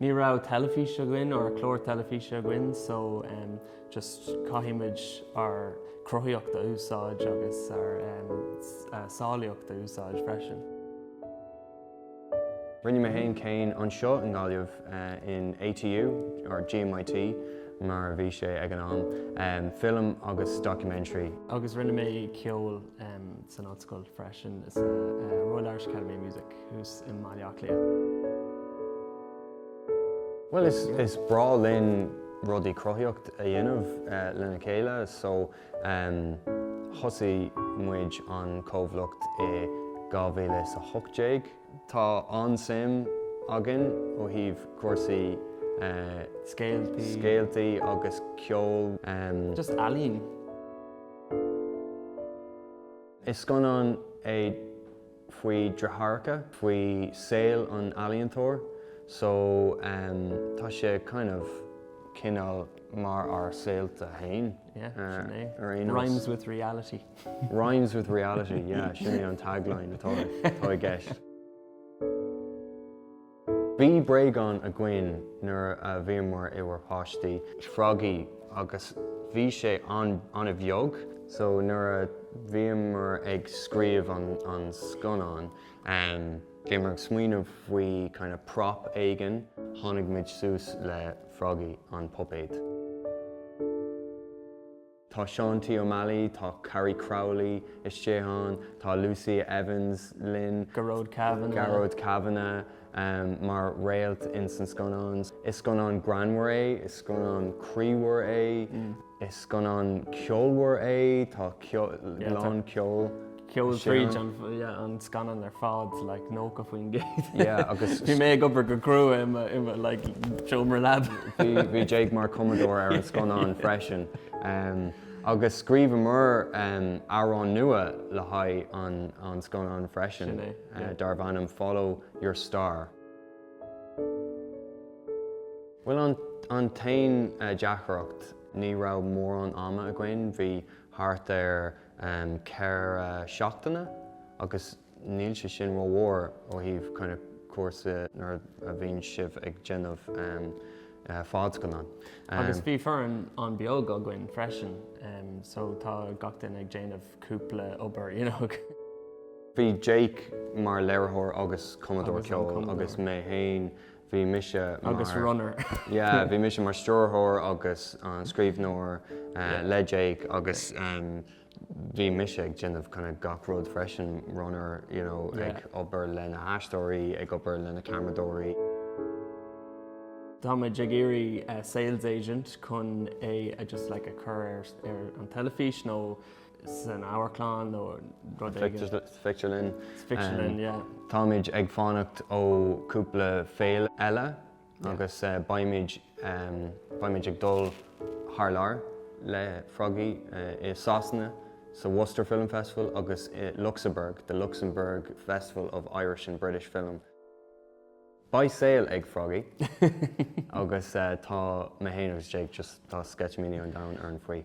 Ní raibh teilifís againn nó clár teilifíse againn so just caithfimid ár gcruthaíocht a úsáid agus ár samhlaíocht a úsáid freisin. Rinne mé féin céim anseo i nGaillimh in ATU nó GMIT mar a bhí sé ag an am, Film agus Documentary. Agus rinne mé ceol san ollscoil freisin sa Royal Irish Academy of Music. thuas i mBaile Átha Cliath. Bhuel is breá linn rudaí cruthaíocht a dhéanamh lena chéile so thosaigh muid an comhlacht i 2018. Tá an-suim againn ó thaobh cúrsaí scéaltaí agus ceoil, just ealaín. Is scannán é faoi dheartháireacha, faoi saol an ealaíontóir so tá sé kind of cineál mar ár saolta féin ar aon nós. Rhymes with reality. Rhymes with reality, yeah, sin é an tagline atá i gceist. Bhí bréagán againn nuair a bhíomar inár bpáistí, Froggie, agus bhí sé an-bheag. So nuair a bhíomar ag scríobh an scannáin, bhíomar ag smaoineamh faoi kind of prop éigin, tháinig muid suas le Froggie, an puipéad. Tá Seán T. Ó Meallaigh, tá Carrie Crowley istigh ann, tá Lucia Evans linn, Gearóid Kavanagh mar réalt ins an scannán. Is scannán greannmhar é, is scannán croímhar é, is scannán ceolmhar é, tá sé lán ceoil. Ceol tríd an scannán ar fad, like 90%. Yeah, agus. Bhí mé ag obair go crua i mo, i mo, like, seomra leaba. Bhí, bhí Jake mar cumadóir ar an scannán freisin. Em, agus scríobhamar, em, amhrán nua le haghaidh an, an scannáin freisin. Sin é, yeah. Eh, darbh ainm Follow Your Star. Bhuel, an, an t-aon, eh, deacracht, ní raibh mórán ama againn. Bhí thart ar ceithre seachtaine agus níl sé sin rómhór ó thaobh kind of cúrsa nuair a bhíonn sibh ag déanamh fadscannán. Agus bhí foireann an-bheag againn freisin so tá gach duine ag déanamh cúpla obair you know. Bhí Jake mar léiritheoir agus cumadóir ceoil agus mé féin Bhí mise mar. Agus runner. Yeah, bhí mise mar stiúrthóir agus an scríbhneoir le Jake agus bhí mise ag déanamh kind of gach rud freisin, runner, you know, ag obair le na haisteoirí, ag obair le na ceamaradóirí. Táimid ag iarraidh sales agent chun é, just like, a chur ar an teilifís nó san amharclann nó rud éigin. Sa phictiúrlann. Sa phictiúrlann, yeah. Táimid ag fanacht ó cúpla féile eile agus beimid beimid ag dul thar lear le Froggy i Sasana sa Worcester Film Festival agus i Luxembourg, the Luxembourg Festival of Irish and British Film. Beidh saol ag Froggy agus tá mé fhéin agus Jake just tá sceitimíní an domhain orainn faoi.